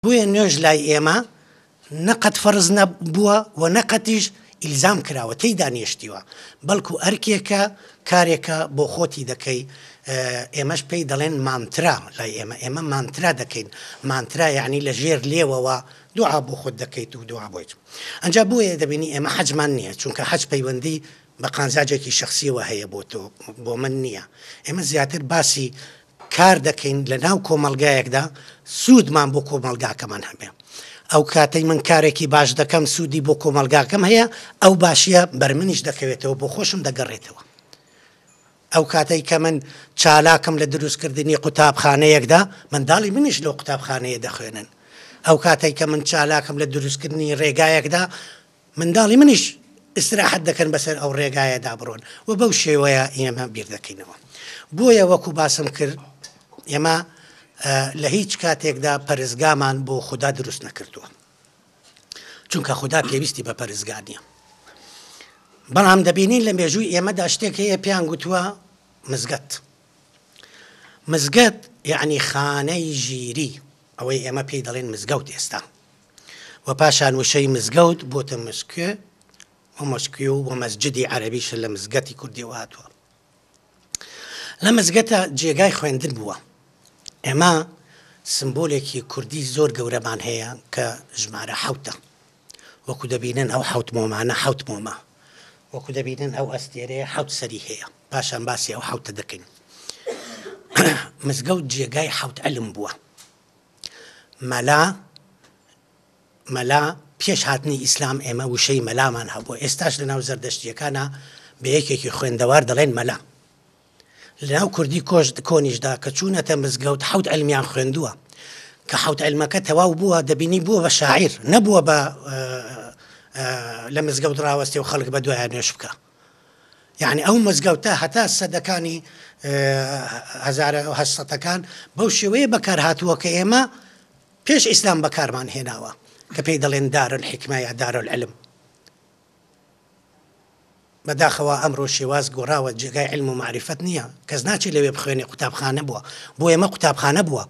بۆیە نوێژ لای ئێمە نە قەت فەرز نە بووە و نە قەتیش ئیلزام کراوە تێیدا نێشتیوە، بەڵکو ئەرکێکە، کارێکە بۆ خۆتی دەکەی، ئێمەش پێی دەڵێن مانترا لای ئێمە، ئێمە مانترا دەکەین، مانترا یەعنی لە ژێر لێوەوە دوعا بۆ خۆت دەکەیت و دوعا بۆ هیچ. ئەنجا بۆیە دەبینی ئێمە حەجمان نییە، چونکە حەج پەیوەندی بە قازانجێکی شەخسییەوە هەیە بۆ تۆ، بۆ من نییە، ئێمە زیاتر باسی کار دەکەین لە ناو کۆمەڵگایەکدا سوودمان بۆ کۆمەڵگاکەمان هەبێ ئەو کاتەی من کارێکی باش دەکەم سوودی بۆ کۆمەڵگاکەم هەیە ئەو باشیە بەر منیش دەکەوێتەوە بۆ خۆشم دەگەڕێتەوە ئەو کاتەی کە من چالاکم لە دروستکردنی قوتابخانەیەکدا منداڵی منیش لەو قوتابخانەیە دەخوێنن ئەو کاتێک کە من چالاکم لە دروستکردنی ڕێگایەکدا منداڵی منیش ئیستراحەت دەکەن بەسەر ئەو ڕێگایەدا بڕۆن و بەو شێوەیە ئێمە بیر دەکەینەوە بۆیە وەکو باسم کرد ئێمە لە هیچ کاتێکدا پەرزگامان بۆ خوددا دروست نەکردووە چونکە خوددا پێویستی بە پەرزگا نیە بەڵام دەبینین لە مێژووی ئێمەدا شتێک هەیە پێیان گوتووە مزگەت مزگەت یعنی خانەی ژیری ئەوەی ئێمە پێی دەڵێن مزگەوت ئێستا و پاشان وشەی مزگەوت بۆتە مشکێ و مشکی و و مەسجدی عەرەبیشە لە مزگەتی کوردیەوە هاتووە لە مزگەتە جێگای خوێندن بووە ئێمە سمبولێکی کوردی زۆر گەورەمان هەیە کە ژمارە حوتە وەکو دەبینن ئەو حوت مۆمانە حوت مۆمە وەکو دەبینن ئەو ئەستێرەیە حوت سەری هەیە پاشان باسی ئەو حوتە دەکەین مزگەوت جێگای حوت ئەلم بووە مەلا مەلا، پێش هاتنی ئیسلام ئێمە وشەی مەلامان هەبووە، ئێستاش لەناو زەردەشتییەکانا بە یەکێکی خوێندەوار دەڵێن مەلا. لەناو کوردی کۆش کۆنیشدا کە چوونەتە مزگەوت حەوت عەلمیان خوێندووە کە حەوت عەلمەکە تەواو بووە دەبینی بووە بە شاعیر نەبووە بە لە مزگەوت ڕاوەستێ و خەڵک بە دوایان نوێش بکە. یانی ئەو مزگەوتە هەتا سەدەکانی هەزارە و هەشت سەدەکان بەو شێوەیە بەکارهاتووە کە ئێمە پێش ئیسلام بەکارمان هێناوە کە پێی دەڵێن دارل حکمە یا دارل علم بەداخەوە ئەمڕۆ شێواز گۆڕاوە جێگای علم و معرفەت نییە کەس ناچێت لەوێ بخوێنێ قوتابخانە بووە بۆ ئێمە قوتابخانە بووە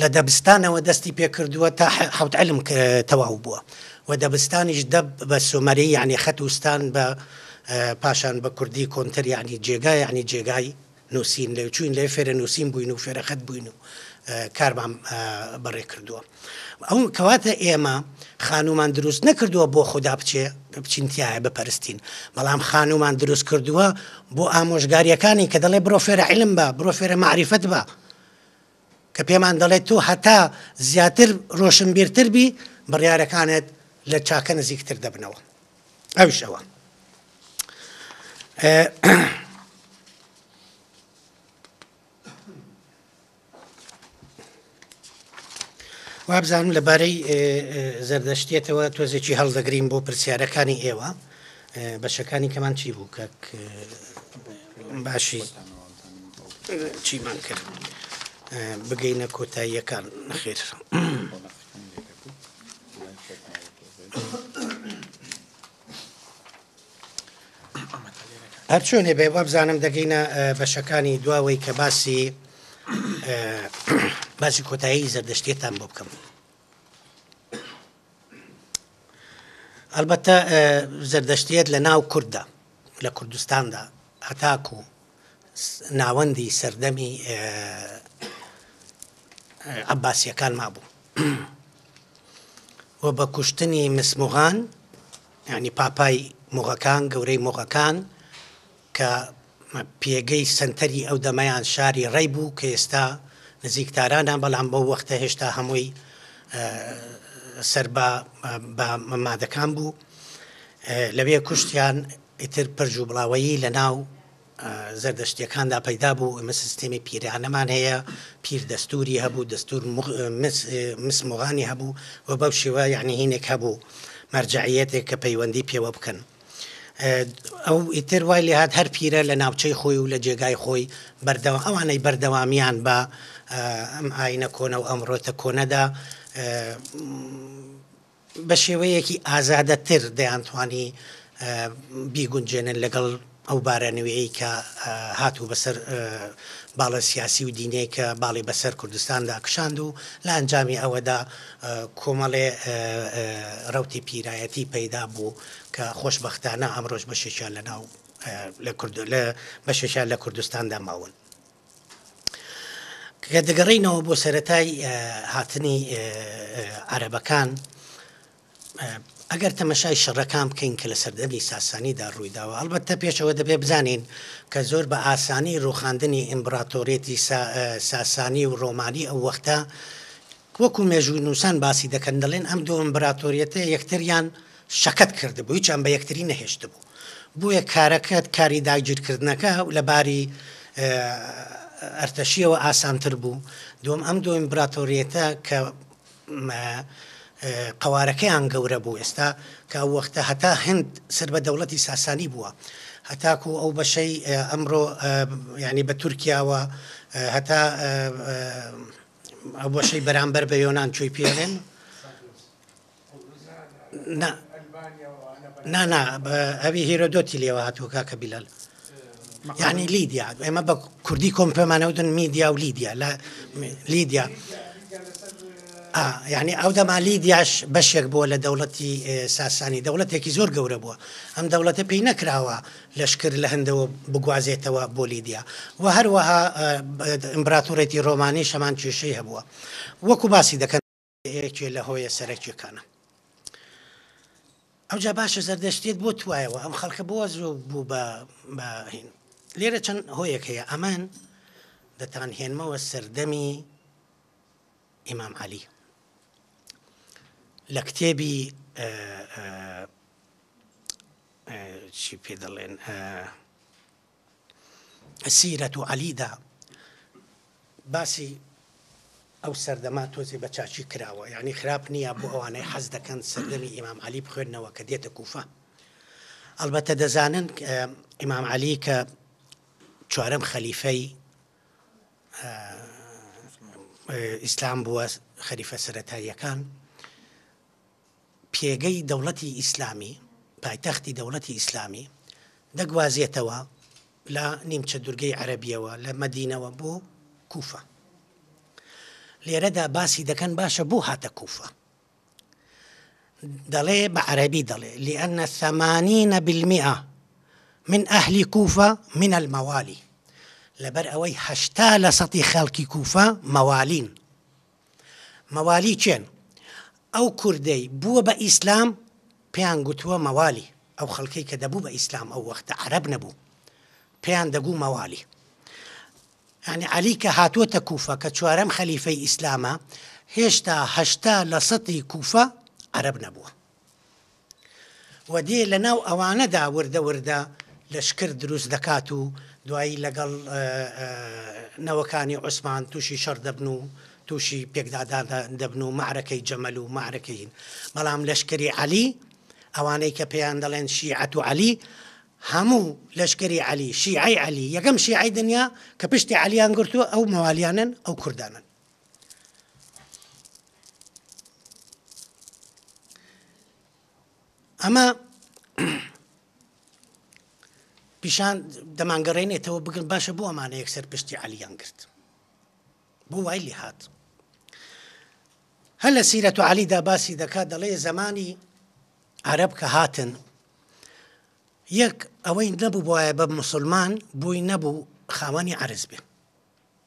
لە دەبستانەوە دەستی پێ کردووە تا حەوت علم تەواو بووە و دەبستانیش دەب بە سۆمەری یعنی خەت و ستان بە پاشان بە کوردی کۆنتر یعنی جێگا یعنی جێگای نووسین لێ چوین لێ فێرە نووسین بووین و فێرە خەت بووین و کارمان بەڕێ کردووە ئەو کەواتە ئێمە خانومان دروست نەکردووە بۆ خوددا بچێ بچینتیایە بپەرستین بەڵام خانومان دروست کردووە بۆ ئامۆژگاریەکانی کە دەڵێ بڕۆ فێرە علم بە بڕۆ فێرە معریفەت بە کە پێمان دەڵێت تۆ هەتا زیاتر ڕۆشنبیرتر بی بڕیارەکانت لە چاکە نزیکتر دەبنەوە ئەوش ئەوە وابزانم لەبارەی زەردەشتێتەوە تۆزێکی هەڵدەگرین بۆ پرسیارەکانی ئێوە بەشەکانی کەمان چی بوو کە باشی چیمان کرد بگەینە کۆتاییەکان نەخێر. هەرچۆنێ بێ وابزانم دەگەینە بەشەکانی دواوەی کە باسی باسی کۆتایی زەردەشتێتان بۆ بکەم. ئەڵبەتە زەردەشتیەت لە ناو کورددا لە کوردستاندا هەتاکو ناوەندی سەردەمی عباسیەکان مابوو و بە کوشتنی مسموغان ینی پاپای مغەکان گەورەی مغەکان کە پێگەی سەنتەری ئەو دەمەیان شاری ڕەی بوو کە ئێستا نزیک تارانە، بەڵام بەو وەختە هێشتا هەمووی سەر بە بە مەمادەکان بوو. لەوێ کوشتیان ئیتر پرج و بڵاوەیی لە ناو زەردەشتیەکاندا پەیدا بوو ئمە سیستێمی پیرانەمان هەیە پیر دەستوری هەبوو دەستور مسمۆغانی هەبوو و بەو شێوە یعنی هینێک هەبوو مەرجعەتێک کە پەیوەندی پێوە بکەن ئەو ئیتر وای لێ هات هەر پیرە لە ناوچەی خۆی و لە جێگای خۆی بەردەوا ئەوانەی بەردەوامیان بە ئەم ئاینە کۆنە و ئەمڕۆتە کۆنەدا بە شێوەیەکی ئازادەتر دەیانتوانی بیگونجێنن لەگەڵ ئەو بارە نوێی کە هاتوو بەسەر باڵە سیاسی و دینەیە کە باڵی بەسەر کوردستاندا کشاند و لە ئەنجامی ئەوەدا کۆمەڵێ ڕوتی پیرایەتی پەیدا بوو کە خۆشبەختانە ئەمڕۆش بەشێکیان لەناو لە کوردۆ لە بەشێکیان لە کوردستاندا ماون. کە دەگەڕینەوە بۆ سەتای هاتنی عربەکان ئەگەر تەمەشای شەڕەکان بکەین کە لە سەردەمی ساسانیدا ڕوویداوە ئەڵبەتە پێشەوە دەبێ بزانین کە زۆر بە ئاسانی ڕوخاندنی ئیمبراتۆرێتی ساسانی و ڕۆمانی ئەو وەختە وەکو مێژوونووسان باسی دەکەن، دەڵێن ئەم دوو ئیمبراتۆریەتە یەکتریان شەکەت کردبوو، هیچیان بە یەکتری نەهێشتبوو، بۆیە کارەکە، کاری داگیرکردنەکە لە باری ئەرتەشییەوە ئاسانتر بوو. دووەم، ئەم دوو ئیمبراتۆریەتە کە قەوارەکەیان گەورە بوو، ئێستا کە ئەو وەختە هەتا هەند سەر بە دەوڵەتی ساسانی بووە، هەتاکو ئەو بەشەی ئەمڕۆ یانی بە تورکیاوە هەتا، ئەو بەشەی بەرامبەر بە یۆنان چۆی پێڵێن نانا ئەوی هێرۆدۆتی لێوە هاتووە کاکە بیلال یعنی لیدیا ئێمە بە کوردی کۆم پێمانەودن میدیا و لیدیا لە لیدیا یعنی ئەو دەما لیدیاش بەشێک بووە لە دەوڵەتی ساسانی دەوڵەتێکی زۆر گەورە بووە ئەم دەوڵەتە پێی نەکراوە لەشکر لە هندەوە بگوازێتەوە بۆ لیدیا و هەروەها ئیمبراتۆرێتی ڕۆمانیش هەمان کێشەی هەبووە وەکو باسی دەکەن یەکێ لە هۆیە سەرەکیەکانە. ئەوجا باشە زەردەشتێت بۆ توایەوە ئەم خەڵکە بۆ زۆ بوو بە هین لێرە چەند هۆیەک هەیە ئەمان دەتان هێنمەوە سەردەمی ئیمام علی لە کتێبی چی پێ دەڵێن سیرەت و عەلیدا باسی ئەو سەردەما تۆزی بە چاچی کراوە یعنی خراپ نییە بۆ ئەوانەی حەز دەکەن سەردەمی ئیمام علی بخوێندنەوە کە دێتە کوفە ئەلبەتە دەزانن ئیمام علی کە چوارم خەلیفەی ئیسلام بووە خەریفە سەتاییەکان پێگەی دەوڵەتی ئیسلامی، پایتەختی دەوڵەتی ئیسلامی، دەگوازێتەوە لە نیمچە دورگەی عەرەبیەوە، لە مەدینەوە بۆ کوفە. لێرەدا باسی دەکەن باشە بۆ هاتە کوفە؟ دەڵێ بە عەرەبی دەڵێ لأن ثمانین بالمئە من ئەهلی کوفە من الموالی لەبەر ئەوەی هەشتا لە سەتی خەڵکی کوفە مەوالین مەوالی کێن؟ ئەو کوردەی بووە بە ئیسلام پێیان گوتووە مەوالی، ئەو خەڵکەی کە دەبوو بە ئیسلام ئەو وەختە عەرەب نەبوو پێیان دەگوو مەوالی. یانی عەلی کە هاتووەتە کوفە کە چوارەم خەلیفەی ئیسلامە هێشتا هەشتا لە سەتی کوفە عەرەب نەبووە. و دێ لە ناو ئەوانەدا وردە وردە لەشکر دروست دەکات و دوایی لەگەڵ نەوەکانی عوسمان تووشی شەڕ دەبن و تووشی پێکدادا دەبن و معرەکەی جەمەل و معرەکەین بەڵام لەشکری عەلی ئەوانەی کە پێیان دەڵێن شیعەت و عەلی هەموو لەشکری عەلی شیعی عەلی یەکەم شیعی دنیا کە پشتی عەلیان گرتووە ئەو مەوالیانن ئەو کوردانن ئەمە پیشان دەمانگەڕێنێتەوە بگرن باشە بۆ ئەمانە یەکسەر پشتی علیان کرد بۆ وای لێ هاات هەر لە سیرەت و علیدا باسی دەکات دەڵێ زمانی عرب کە هاتن یەک ئەوەی نەبوو بواە بە مسلمان بووی نەبوو خاوەنی عرز بێ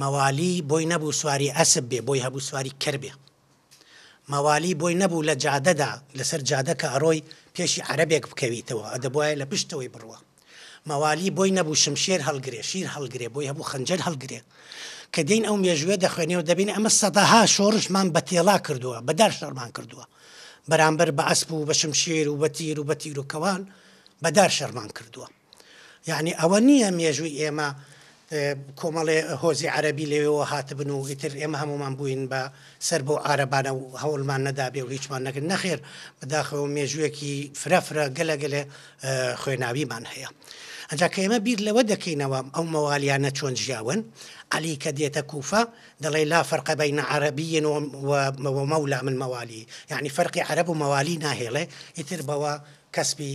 مەوالی بۆی نەبوو سواری ئەسپ بێ بۆی هەبوو سواری کەر بێ مەوالی بۆی نەبوو لە جادەدا لەسەر جادە کە ئەڕۆی پێشی عەرەبێک بکەویتەوە ئەدەبوایە لە پشتەوەی بڕوا مەوالی بۆی نەبوو شمشێر هەڵگرێ شیر هەڵگرێ بۆی هەبوو خەنجەر هەڵگرێ کە دێین ئەو مێژووە دەخوێنێ و دەبینێ ئەمە سەدەها شۆڕشمان بە تێڵا کردووە بە دار شەڕمان کردووە بەرامبەر بە ئەسپ و بە شمشێر و بە تیر و بە تیروکەوان بە دار شەڕمان کردووە یەعنی ئەوە نییە مێژووی ئێمە کۆمەڵێ هۆزی عەرەبی لەوێەوە هاتبن و ئیتر ئێمە هەمومان بووین بە سەر بۆ عربانە و هەوڵمان نەدابێ و هیچمان نەکرد نەخێر بەداخەوە مێژوویەکی فرەفرە گەلە گەلێ خوێناویمان هەیە. ئەجا کە ئێمە بیر لەوە دەکەینەوە ئەو مەوالیانە چۆن ژیاون علی کە دێتە کوفە دەڵێ لا فەرقە بین عربیین و مەولا من مەوالی یعنی فەرقی عرب و مەوالی ناهێڵێ ئیتر بەوە کەسبی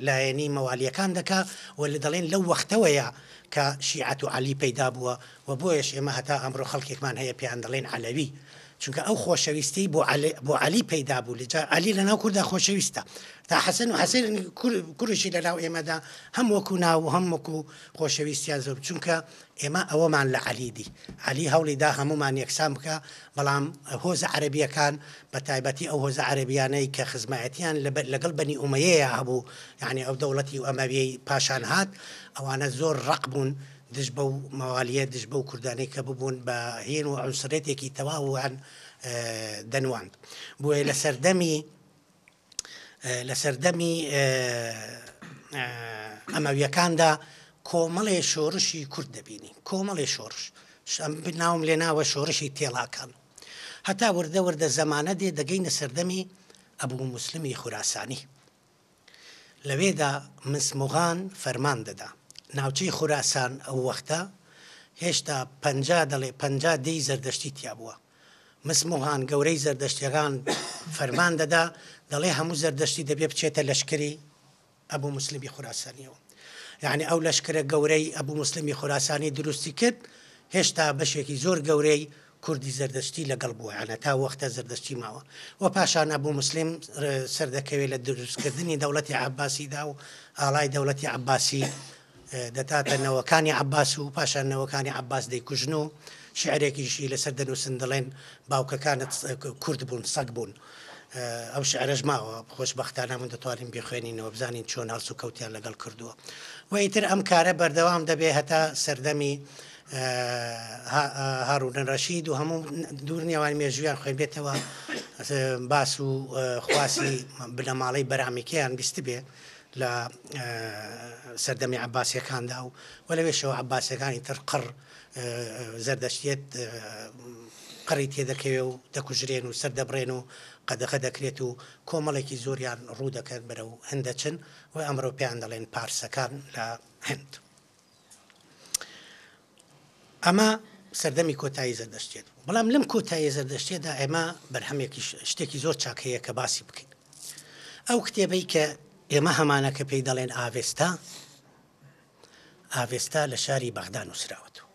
لایەنی مەوالیەکان دەکا و دەڵێن لەو وەختەوەیە کە شیعەت و عەلی پەیدا بووە و بۆیەش ئێمە هەتا ئەمڕۆ خەڵکێکمان هەیە پێیان دەڵێن عەلەوی چونکە ئەو خۆشەویستیی بۆ عەلی بۆ عەلی پەیدا بوو لە جا عەلی لەناو کوردا خۆشەویستە تا حەسەن و حەسەن کوریشی لەناو ئێمەدا هەم وەکو ناو و هەم وەکو خۆشەویستیان زۆر چونکە ئێمە ئەوەمان لە عەلی دی. عەلی هەوڵی دا هەموومان یەکسان بکا، بەڵام هۆزە عەرەبییەکان، بە تایبەتی ئەو هۆزە عەرەبییانەی کە خزمایەتییان لەگەڵ بەنی ئومەیەیا هەبوو، یانی ئەو دەوڵەتی ئەمەوییەی پاشان هات، ئەوانە زۆر ڕەق بوون دژ بەو مەوالییە، دژ بەو کوردانەی کە ببوون بە هین و عونسرییەتێکی تەواویان دەنواند. بۆیە لە سەردەمی. لە سەردەمی ئەمەویەکاندا کۆمەڵێ شۆرشی کورد دەبینی کۆمەڵێ شۆرش ناوم لێ ناوە شۆرشی تێڵاکان هەتا وردە وردە زەمانە دێ دەگەینە سەردەمی ئەبوو مسلمی خوراسانی لەوێدا مسمغان فەرمان دەدا ناوچەی خوراسان ئەو وەختە هێشتا پ دەڵێ پ دەی زەردەشتی تیا بووە مسموهان، گەورەی زەردەشتیەکان، فەرمان دەدا، دەڵێ هەموو زەردەشتی دەبێ بچێتە لەشکری ئەبوو موسلمی خوراسانیەوە. یەعنی ئەو لەشکرە گەورەی ئەبوو موسلمی خوراسانی دروستی کرد، هێشتا بەشێکی زۆر گەورەی کوردی زەردەشتی لەگەڵ بووە، یەعنی تا وەختە زەردەشتی ماوە و پاشان ئەبوو موسلم سەردەکەوێ لە دروستکردنی دەوڵەتی عەباسیدا و ئاڵای دەوڵەتی عەباسی دەتاتە نەوەکانی عەباس و پاشان نەوەکانی عەباس دەیکوژن و شیعرێکیشی لەسەر دەنووسن دەڵێن، باوکەکانت کورد بوون، سەگ بوون. ئەو شیعرەش ماوە، خۆشبەختانە من دەتوانین بیخوێنینەوە بزانین چۆن هەڵسوکەوتیان لەگەڵ کردووە. وە ئیتر ئەم کارە بەردەوام دەبێ هەتا سەردەمی هاڕوون ڕەشید و هەموو دوورنێوان مێژوویان خوێنبێتەوە باس و خواسی بنەماڵەی بەرامیکەیان بیستبێ لە سەردەمی عەباسیەکاندا و وە لەوێشەوە عەباسیەکانی تر قڕ زەردەشتیەت قڕی تێدەکەوێ و دەکوژرێن و سەردەبڕێن و قەدەغە دەکرێت و کۆمەڵێکی زۆریان ڕوو دەکەن بەرەو هندەچن و ئەمرۆ پێیان دەڵێن پارسەکان لە هند. ئەمە سەردەمی کۆتایی زەردەشتێت بەڵام لەم کۆتایی زەردەشتێدا ئێمە بەرهەمێکی شتێکی زۆر چاکەیە کە باسی بکەین ئەو کتێبەی کە ئێمە هەمانە کە پێی دەڵێن ئاڤێستا ئاڤێستا لە شاری بەغدا نووسراوەتەوە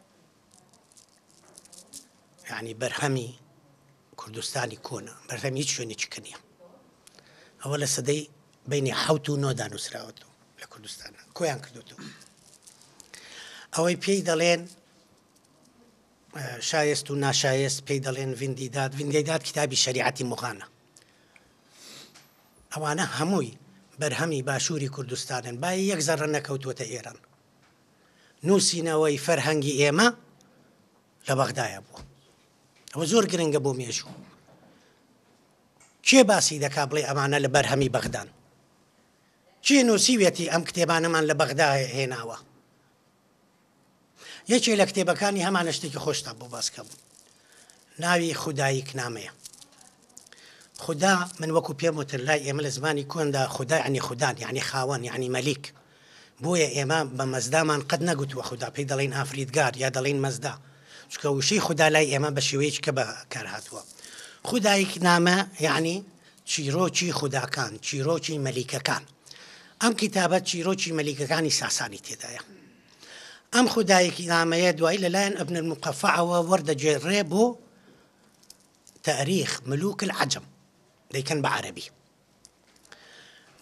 یعنی بەرهەمی کوردستانی کۆنە بەرهەمی هیچ شوێنێکی کە نیە ئەوە لە سەدەی بینی حوت و نۆدا نووسراوەتەوە لە کوردستان کۆیان کردوتەوە ئەوەی پێی دەڵێن شایست و ناشایست پێی دەڵێن ویندیداد ویندیداد کتابی شریعەتی مغانە ئەوانە هەمووی بەرهەمی باشووری کوردستانن با یەک زەڕە نەکەوتوەتە ئێران نووسینەوەی فەرهەنگی ئێمە لە بەغدایە بووە ئەوە زۆر گرنگە بۆ مێژوو کێ باسی دەکا بڵێ ئەمانە لە بەرهەمی بەغدان کێ نووسیویەتی ئەم کتێبانەمان لە بەغدا هێناوە یەکێ لە کتێبەکانی هەمانە شتێکی خۆشتا بۆ باسکەم ناوی خودایی کنامەیە خدا من وەکو پێم وتر لای ئێمە لە زمانی کۆندا خدا عنی خوددان یعنی خاوەن یعنی مەلیک بۆیە ئێمە بە مەزدامان قەت نەگوتووە خودا، پێی دەڵێین ئافریدگار یا دەڵێین مەزدا، چونکە وشەی خودا لای ئێمە بە شێوەیەکی کە بەکارهاتووە. خودایک نامە یەعنی چیرۆکی خوداکان، چیرۆکی مەلیکەکان. ئەم کیتابە چیرۆکی مەلیکەکانی ساسانی تێدایە. ئەم خودایک نامەیە دوایی لە لایەن ابن المقفعەوە وەردەگێڕرێ بۆ تاریخ ملوک العجم، دەیکەن بە عەرەبی.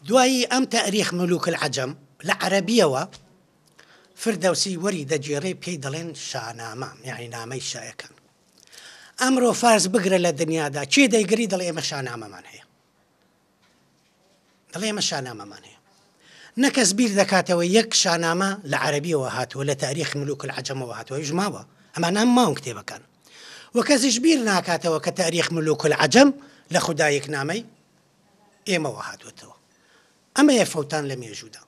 دوایی ئەم تەئریخ ملوک العجم لە عەرەبییەوە فردەوسی وەری دەگێڕێ پێی دەڵێن شانامە یانی نامەی شاەکان. ئەمڕۆ فارس بگرە لە دنیادا کێ دەیگری دەڵێ ئێمە شانامەمان هەیە. دڵێ ئێمە شانامەمان هەیە. نەکەس بیر دەکاتەوە یەک شانامە لە عەربیەوە هاتووە لە تاریخ ملوک العجمەوە هاتووە ژماوە ئەمانام ماون کتێبەکان. و کەسیش بیر ناکاتەوە کە تاریخ ملوک العجم لە خودایەکنامەی ئێمەوە هاتووەتەوە ئەمەیە فەوتان لە مێژوودا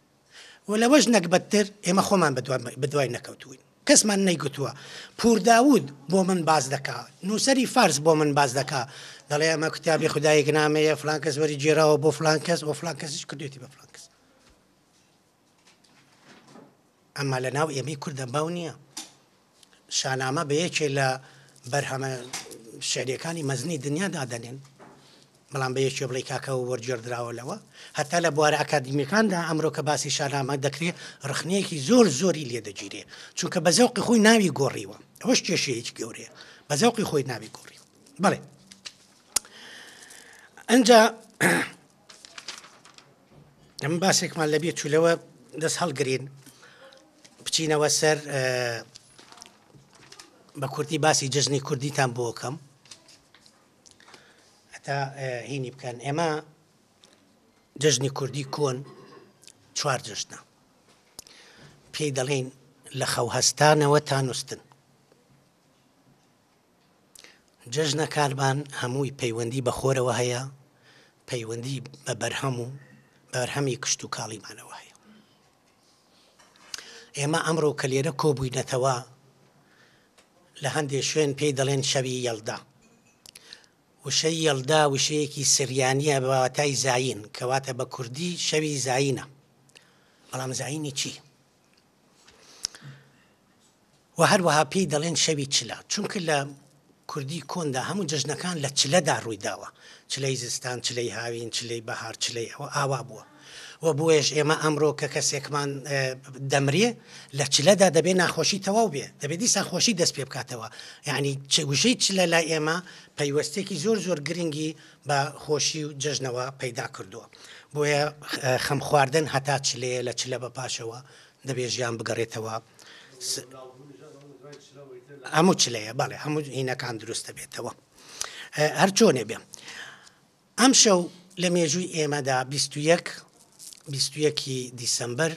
و لەوەش نەگبەتتر ئێمە خۆمان بەدوای نەکەوتوین کەسمان نەیگوتووە پور داود بۆ من باز دەکا نووسری فارس بۆ من باز دەکا دەڵێ ئەمە کتابی خدایەک نامەیە فلانکەس وەری جێراوە بۆ فلانکەس و فلانکەسیش کردێتی بە فلانکەس ئەمە لە ناو ئێمەی کوردە باو نییە شانامە بە یەکێ لە بەرهەمە شعرەکانی مەزنی دنیا دادەنێن بەڵام بە یەکێ بڵی کاکەەوە وەرجێردراوە لەوە هەتا لە بوارە ئاکادمیەکاندا ئەمرۆ کە باسی شانامە دەکرێت ڕخنەیەکی زۆر زۆری لێ دەگیرێ چونکە بە زەوقی خۆی ناوی گۆڕیوە ئەوش کێشەیەکی گەورەیە بە زەوقی خۆی ناوی گۆڕیوە بڵێ ئەجا ئێمە باسێکمان لە بیر چوو لەوە دەست هەڵگرین بچینەوە سەر بە کوردی باسی جژنی کوردیتان بۆکەم هەتا هینی بکەن ئێمە جژنی کوردی کۆن چوار جژنە پێی دەڵێن لە خەو هەستانەوە تا نووسن جەژنەکانمان هەمووی پەیوەندی بە خۆرەوە هەیە، پەیوەندی بە بەرهەم و بەرهەمی کشتوکاڵیمانەوە هەیە. ئێمە ئەمڕۆ کە لێرە کۆبووینەتەوە لە هەندێ شوێن پێی دەڵێن شەوی یەلدا. وشەی یەلدا وشەیەکی سریانە بە واتای زین کەواتە بە کوردی شەوی زینە بەڵام زینی چی؟ و هەروەها پێی دەڵێن شەوی چلە، چونکە لە کوردی کۆندا هەموو جەژنەکان لە چلەدا ڕووی داوە، چلەی زستان، چلەی هاوین، چلەی بەهار، چلەی ئەوە ئاوا بووە و بۆیەش ئێمە ئەمڕۆ کە کەسێکمان دەمرێ لە چلەدا دەبێ ناخۆشی تەواو بێ دەبێت دیسان خۆشی دەست پێ بکاتەوە یعنی چگوشەی چلە لای ئێمە پەیوەستێکی زۆر زۆر گرنگی بە خۆشی و جەژنەوە پەیدا کردووە. بۆیە خەم خواردن هەتا چلەیە لە چلە بە پاشەوە دەبێ ژیان بگەڕێتەوە س هەموو چلەیە بەڵێ هەموو هینەکان دروست دەبێتەوە هەر چۆنێ بێ ئەم شەو لە مێژووی ئێمەدا 21 21 دیسمبر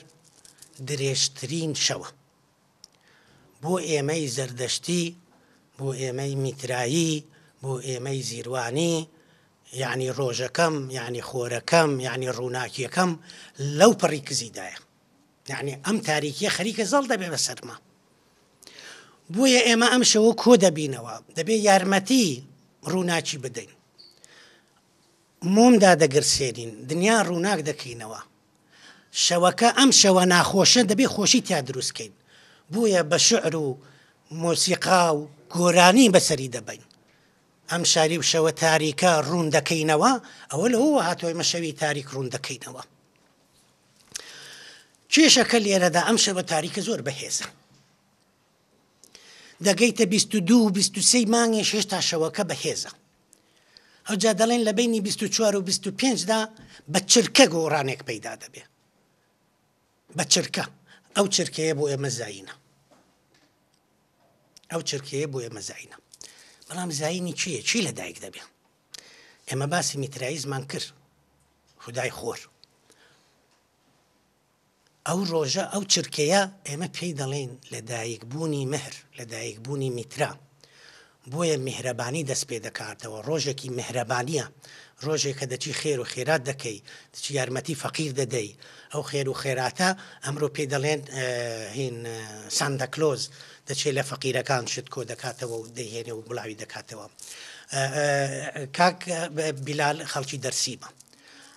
درێژترین شەوە بۆ ئێمەی زەردەشتی، بۆ ئێمەی میترایی، بۆ ئێمەی زیروانی، یەعنی ڕۆژەکەم، یەعنی خۆرەکەم، یەعنی ڕووناکییەکەم لەو پەڕی کزیدایە. یەعنی ئەم تاریکییە خەریکە زەڵ دەبێ بە سەرما. بۆیە ئێمە ئەم شەوە کۆ دەبینەوە، دەبێ یارمەتیی ڕووناکی بدەین. مۆم دادەگرسێنین، دنیا ڕووناک دەکەینەوە. شەوەکە ئەم شەوە ناخۆشە دەبێ خۆشی تیا دروست کەین بۆیە بە شعر و مۆسیقا و گۆرانی بەسەری دەبەین ئەم شاری و شەوە تاریکە ڕوون دەکەینەوە ئەوە لەوەوە هاتووە ئێمە شەوی تاریک ڕوون دەکەینەوە کێشەکە لێرەدا ئەم شەوە تاریکە زۆر بەهێزە دەگەیتە بیست و دوو و بیست و سێی مانگیش هێشتا شەوەکە بەهێزە. ئەوجا دەڵێن لە بەینی بیست و چوار و بیست و پێنج دا بە چرکە گۆڕانێک پەیدا دەبێ. بە چرکە. ئەو چرکەیە بۆ ئێمە زینە. ئەو چرکەیە بۆ ئێمە زینە. بەڵام زینی چییە؟ چی لە دایک دەبێ؟ ئێمە باسی میترایزمان کرد. خدای خۆر. ئەو ڕۆژە، ئەو چرکەیە ئێمە پێی دەڵێین لە دایک بوونی مهر، لە دایک بوونی میترا. بۆیە میهرەبانی دەست پێ دەکاتەوە، ڕۆژێکی میهرەبانییە، ڕۆژێک کە دەچی خێر و خێرات دەکەی، دەچی یارمەتی فەقیر دەدەی، ئەو خێر و خێراتە ئەمرۆ پێی دەڵێن هین سانتا کلۆز، دەچێ لە فەقیرەکان شت کۆ دەکاتەوە و دەیهێنێ و بڵاوی دەکاتەوە. کاک بیلال خەڵکی دەرسیمە.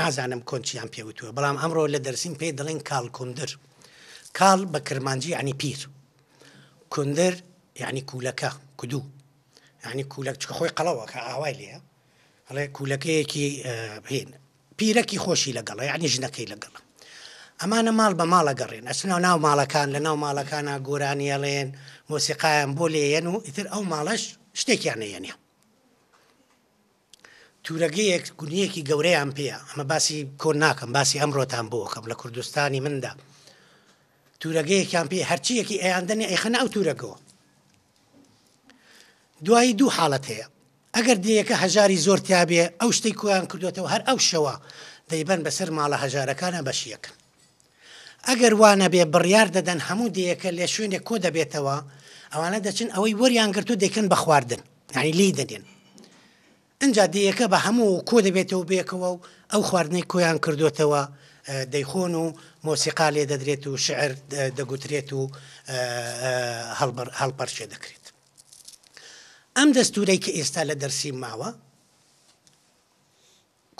نازانم کۆن چیان پێ وتووە، بەڵام ئەمڕۆ لە دەرسیم پێی دەڵێن کاڵکوندر. کاڵ بە کرمانجی یانی پیر. کوندر یانی کوولەکە، کدوو. یانی کوولەک، چونکە خۆی قەڵەوە کە ئاوای لێیە. ئەڵێ کوولەکەیەکی هین. پیرەکی خۆشی لەگەڵە، یانی ژنەکەی لەگەڵە. ئەمانە ماڵ بە ماڵ ئەگەڕێن، ئەچنە ناو ماڵەکان، لە ناو ماڵەکانا گۆرانی ئەڵێن، مۆسیقایان بۆ لێیەن و ئیتر ئەو ماڵەش شتێکیان ئەیەنێ. تورەگەیەک گونیەکی گەورەیان پێیە ئەمە باسی کۆن ناکەم باسی ئەمڕۆتان بۆ ئەکەم لە کوردستانی مندا تورەگەیەکیان پێ هەرچیەکی ئەیاندەنی ئەیخەنە ئەو تورەگەوە دوایی دوو حاڵەت هەیە ئەگەر دێیەکە هەژاری زۆر تابێ ئەو شتەی کۆیان کردوێتەوە هەر ئەو شەوە دەیبەن بەسەر ماڵە هەژارەکانە بەشیەکەن ئەگەر وا نەبێ بڕیار دەدەن هەموو دێیەکە لە شوێنێک کۆ دەبێتەوە، ئەوانە دەچن ئەوەی وەریان گرتووە دەیکەن بە خواردن، یانی لێی دەنێن. ئینجا دێیەکە بە هەموو کۆ دەبێتەوە بەیەکەوە و ئەو خواردنەی کۆیان کردووەتەوە دەیخۆن و مۆسیقا لێ دەدرێت و شیعر دەگوترێت و هەڵپەرچێ دەکرێت. ئەم دەستوورەی کە ئێستا لە دەرسیم ماوە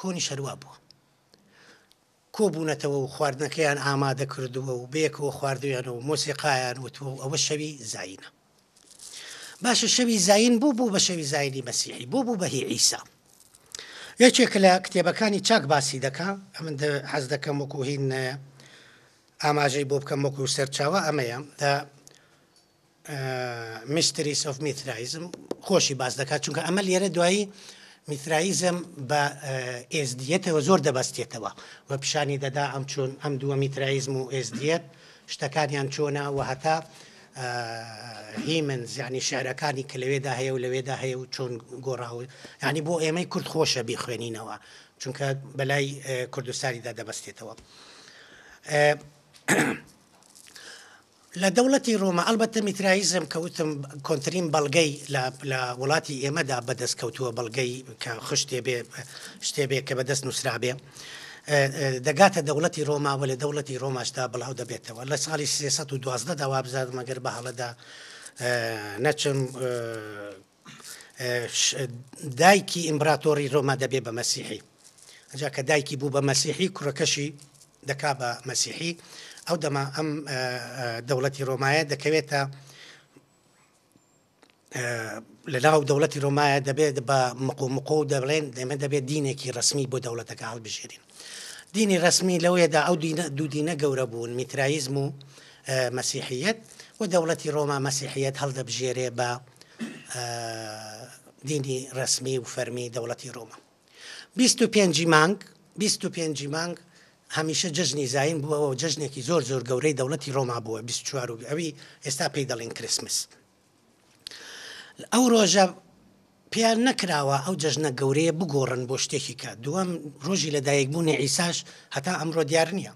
کۆنیش هەر وا بووە. کۆبوونەتەوە و خواردنەکەیان ئامادە کردووە و بەیەکەوە خواردوویانە و مۆسیقایان وتووە و ئەوە شەوی زایینە. باشە شەوی زایین بۆ بوو بە شەوی زایینی مەسیحی؟ بۆ بوو بە هی عیسا؟ یەکێک لە کتێبەکانی چاک باسی دەکا، ئەمن حەز دەکەم وەکوو هین ئاماژەی بۆ بکەم وەکوو سەرچاوە ئەمەیە، دە، Mysteries of Mithraism، خۆشی باس دەکات، چونکە ئەمە لێرە دوایی میثرایزم بە ئێزدیەتەوە زۆر دەبەستێتەوە و پیشانی دەدا ئەم چۆن ئەم دووە میترایزم و ئێزدیەت شتەکانیان چۆنا و هەتا هیمن زیانی شعرەکانی کە لەوێدا هەیە و لەوێدا هەیە و چۆن گۆڕاوە ینی بۆ ئێمەی کورد خۆشە بیخوێنینەوە چونکە بەلای کوردستانیدا دەبەستێتەوە لە دەوڵەتی ڕۆما ئەڵبەتە میتراییزم کە وتم کۆنترین بەڵگەی لە لە وڵاتی ئێمەدا بەدەست کەوتووە بەڵگەی کە خشتێ بێ شتێ بێ کە بەدەست نووسرابێ دەگاتە دەوڵەتی ڕۆما و لە دەوڵەتی ڕۆماشدا بڵاو دەبێتەوە لە ساڵی 312 دا وابزانم مەگەر بە هەڵەدا نەچم دایکی ئیمبراتۆڕی رۆما دەبێ بە مەسیحی ئەجا کە دایکی بوو بە مەسیحی کوڕەکەشی دەکا بە مەسیحی ئەو دەما ئەم دەوڵەتی رۆمایە دەکەوێتە لە ناو دەوڵەتی رۆمایە دەبێت بە مقۆمقۆ و دەبڵێن دەمە دەبێت دینێکی ڕسمی بۆ دەوڵەتەکە هەڵبژێرین دینی ڕەسمی لەوێدا ئەو دوو دینە گەورە بوون، میترایزم و مەسیحییەت و دەوڵەتی ڕۆما مەسیحییەت هەڵدەبژێرێ بە دینی ڕەسمی و فەرمی دەوڵەتی ڕۆما. 25 مانگ 25 مانگ هەمیشە جژنی زین بووەوە جژنێکی زۆر زۆر گەورەی دەوڵەتی ڕۆما بووە 24 ئەوی ئێستا پێی دەڵین کریسمس ئەو ڕۆژە پێیان نەکراوە ئەو جەژنە گەورەیە بگۆڕن بۆ شتێکی کە دووەم ڕۆژی لە دایکبوونی ئیساش هەتا ئەمڕۆ دیار نییە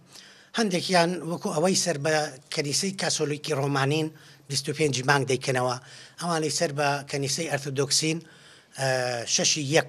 هەندێکیان وەکو ئەوەی سەر بە کەنیسەی کاسۆلیکی ڕۆمانین 25 مانگ دەیکەنەوە ئەوانەی سەر بە کەنیسەی ئەرتۆدۆکسین شەشی یەک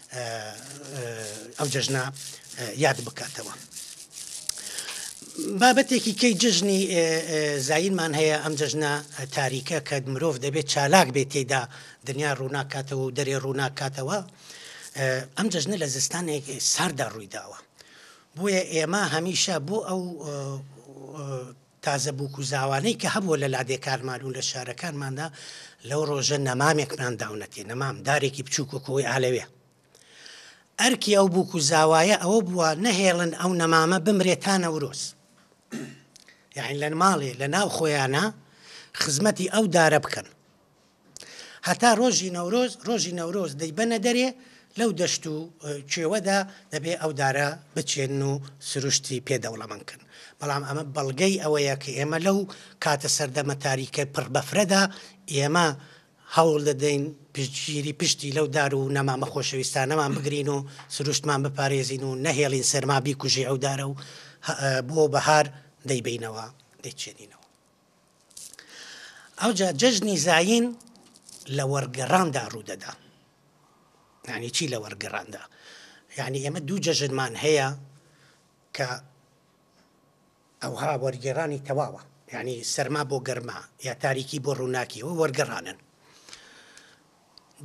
ئەو جەژنا یاد بکاتەوە. بابەتێکی کەی جژنی زایینمان هەیە ئەم جژنە تاریکە کە مرۆڤ دەبێت چالاک بێت تێدا دنیا ڕووناکاتەوە و دەرێ ڕووناکاتەوە ئەم جژنە لە زستانێک ساردا ڕوویداوە بۆیە ئێمە هەمیشە بۆ ئەو تازە بووک و زاوانەی کە هەبووە لە لادێکانمان و لە شارەکانماندا، لەو ڕۆژە نەمامێکمان داونەتێ، نەمام، دارێکی بچووک وەکوو ئەوەی ئالەوێ. ئەرکی ئەو بووک و زاوایە ئەوە بووە نەهێڵن ئەو نەمامە بمرێ تا نەورۆز. یەعنی لە ماڵێ لە ناو خۆیانا خزمەتی ئەو دارە بکەن. هەتا ڕۆژی نەورۆز ڕۆژی نەورۆز دەیبەنە دەرێ لەو دەشت و کوێوەدا دەبێ ئەو دارە بچێن و سروشتی پێ دەوڵەمەند کەن بەڵام ئەمە بەڵگەی ئەوەیە کە ئێمە لەو کاتە سەردەمە تاریکە پڕ بەفرەدا ئێمە هەوڵ دەدەین پشتگیری پشتی لەو دار و نەمامە خۆشەویستانەمان بگرین و سروشتمان بپارێزین و نەهێڵین سەرما بیکوژی ئەو دارە و بۆ بەهار دەیبینەوە دەیچێنینەوە ئەوجا جەژنی زایین لە وەرگەڕاندا ڕوودەدا یعنی چی لە وەرگەڕاندا یعنی ئێمە دوو جەژنمان هەیە کە ئەوها وەرگێڕانی تەواوە یعنی سەرما بۆ گەرما یا تاریکی بۆ ڕووناکیەوە وەرگەڕانن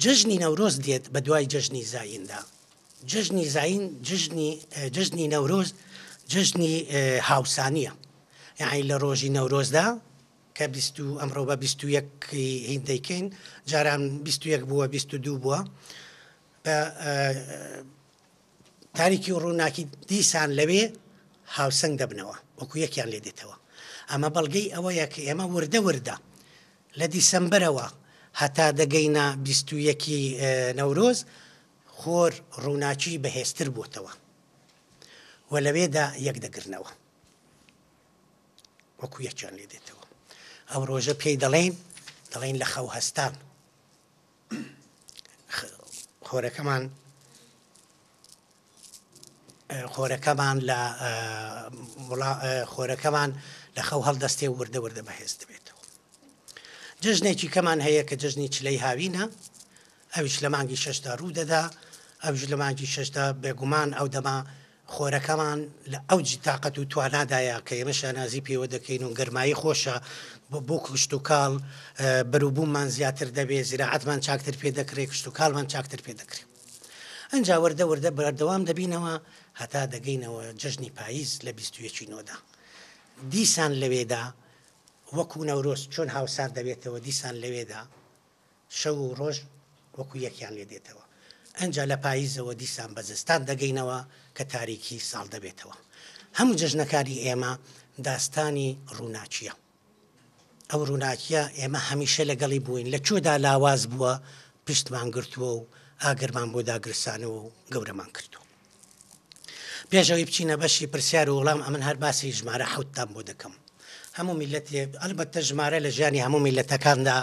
جەژنی نەورۆز دێت بە دوای جەژنی زایندا. جەژنی زاین جەژنی جەژنی نەورۆز جەژنی هاوسانییە. یەعنی لە ڕۆژی نەورۆزدا کە بیست و ئەمڕۆ بە بیست و یەک هین دەیکەین جاران بیست و یەک بووە بیست و دوو بووە بە تاریکی و ڕووناکی دیسان لەوێ هاوسەنگ دەبنەوە وەکو یەکیان لێ دێتەوە ئەمە بەڵگەی ئەوەیە کە ئێمە وردە وردە لە دیسەمبەرەوە هەتا دەگەینە بیست و یەکی نەورۆز خۆر ڕووناکی بەهێزتر بۆتەوە و لەوێدا یەکدەگرنەوە وەکو یەکیان لێ دێتەوە ئەو ڕۆژە پێی دەڵێن دەڵێن لە خەو هەستان. خۆرەکەمان خۆرەکەمان لە خۆرەکەمان لە خەو هەڵدەستێ و وردە وردە بەهێز دەبێتەوە جژنێکی کەمان هەیە کە جژنی چلەی هاوینە ئەوش لە مانگی شەشدا ڕوو دەدا ئەوش لە مانگی شەشدا بێگومان ئەو دەما خۆرەکەمان لە ئەوج تاقەت و توانادایە کە ئێمە شانازی پێوە دەکەین و گەرمایی خۆشە بۆ کشتوکاڵ، بەروبووممان زیاتر دەبێ، زیراعەتمان چاکتر پێ دەکرێ، کشتوکاڵمان چاکتر پێ دەکرێ. ئەنجا وردە وردە بەردەوام دەبینەوە هەتا دەگەینەوە جەژنی پاییز لە بیست و یەکی نۆدا. دیسان لەوێدا وەکوو نەورۆز چۆن هاوسار دەبێتەوە دیسان لەوێدا، شەو و ڕۆژ وەکو یەکیان لێ دێتەوە. ئەنجا لە پاییزەوە دیسان بە زستان دەگەینەوە کە تاریکی ساڵ دەبێتەوە. هەموو جەژنەکانی ئێمە داستانی ڕووناکییە. ئەو ڕووناکییە ئێمە هەمیشە لەگەڵی بووین، لە کوێدا لاواز بووە، پشتمان گرتووە و ئاگرمان بۆ داگرسانەوە و گەورەمان کردووە. پێش ئەوەی بچینە بەشی پرسیار و وڵام ئەمن هەر باسی ژمارە حوتتان بۆ دەکەم هەموو میلەت ئەلبەتە ژمارە لە ژیانی هەموو میلەتەکاندا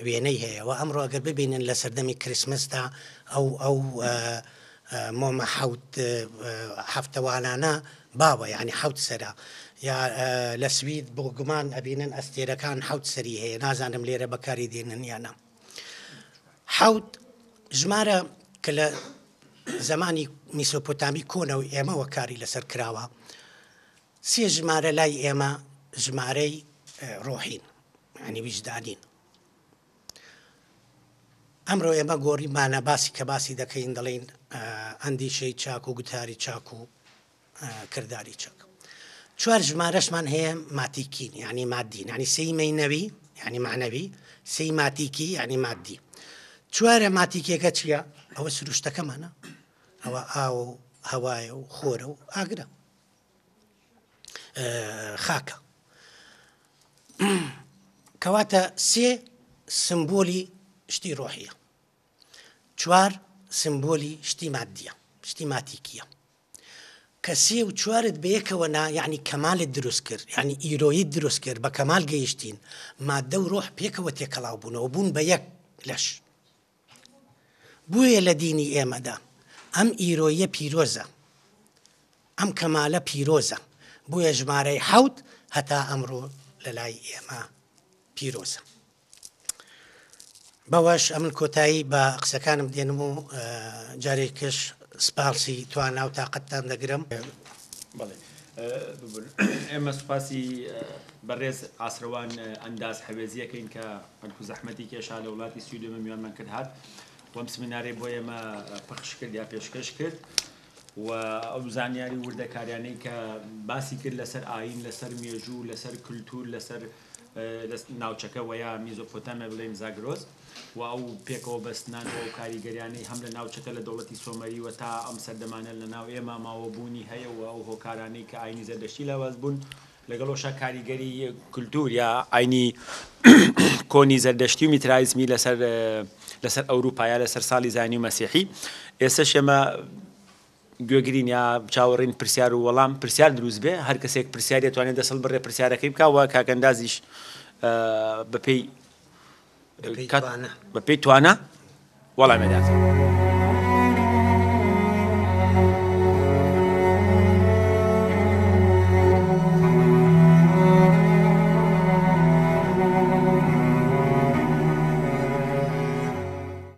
وێنەی هەیە و ئەمڕۆ ئەگەر ببینن لە سەردەمی کریسمسدا ئەو ئەو مۆمە حوت هەفتەوانانە باوە یعنی حوت سرە یا لە سوید بۆ گومان ئەبینن ئەستێرەکان حوت سەری هەیە نازانم لێرە بەکاری دێنن یانە حەوت ژمارە کە لە زمانی میسۆپۆتامی کۆنە و ئێمەوە کاری لەسەر کراوە سێ ژمارە لای ئێمە ژمارەی ڕۆحین ینی ویژدانین ئەمڕۆ ئێمە گۆریمانە باسی کە باسی دەکەین دەڵین ئەندیشەی چاک و گوتاری چاک و کرداری چەک چوار ژمارەشمان هەیە ماتیکین یعنی مادین ینی سێی مینەوی یعنی معنەوی سێی ماتیکی یعنی مادی چوارە ماتیکێکە چییە ئەوە سروشتەکەمانە ئەوە ئاو و هەوایە و خۆرە و ئاگرە خاکە کەواتە سێ سمبولی شتی ڕۆحیە چوار سمبولی شتی مادیە شتی ماتیکیە کە سێ و چوارت بەیەکەوە نا یعنی کەمالت دروست کرد یعنی ئیرۆیت دروست کرد بە کەمال گەیشتین مادە و ڕۆح پێکەوە تێکەڵاو بوونەوە بوون بە یەک لەش بۆیە لە دینی ئێمەدا ئەم ئیرۆیە پیرۆزە ئەم کەمالە پیرۆزە بۆیە ژمارەی حەوت هەتا ئەمڕۆ لە لای ئێمە پیرۆزە بەوەش ئەمن کۆتایی بە قسەکانم دێنم و جارێکش سپاسی توانا و تااقەتتان دەگرم. ئێمە سوپاسی بەڕێز ئاسروان ئەنداز حەوێزیەکەین کە بەلکو زەحمەتی کێشا لە وڵاتی سویدێمە میوانمان کرد هات وەم سمینارەی بۆ ئێمە پەخش کرد یا پێشکەش کرد. و ئەو زانیاری وردەکاریانەی کە باسی کرد لەسەر ئاین لەسەر مێژوو لەسەر کللتور لەسەر لە ناوچەکە وە یا میزۆپۆتامیا بڵێین زاگرۆس و ئەو پێکەوە بەستنان و ئەو کاریگەریانەی هەم لە ناوچەکە لە دەوڵەتی سۆمەری وە تا ئەم سەردەمانە لە ناو ئێمە ماوە بوونی هەیە و ئەو هۆکارانەی کە ئاینی زەردەشتی لاواز بوون لەگەڵ ئەوشا کاریگەری کلتور یا ئاینی کۆنی زەردەشتی و میترایزمی لەسەر لەسەر ئەوروپا یا لەسەر ساڵی زانی و مەسیحی ئێستا شێمە گوێگرین یا چاوەڕێین پرسیار و وەڵام پرسیار دروست بێ هەر کەسێک پرسیاری ئەتوانێ دەست هەڵبرێ پرسیارەکەی بکا وە کاک ئەندازیش بە پێی بە پێی توانا وەڵامێ داتەوە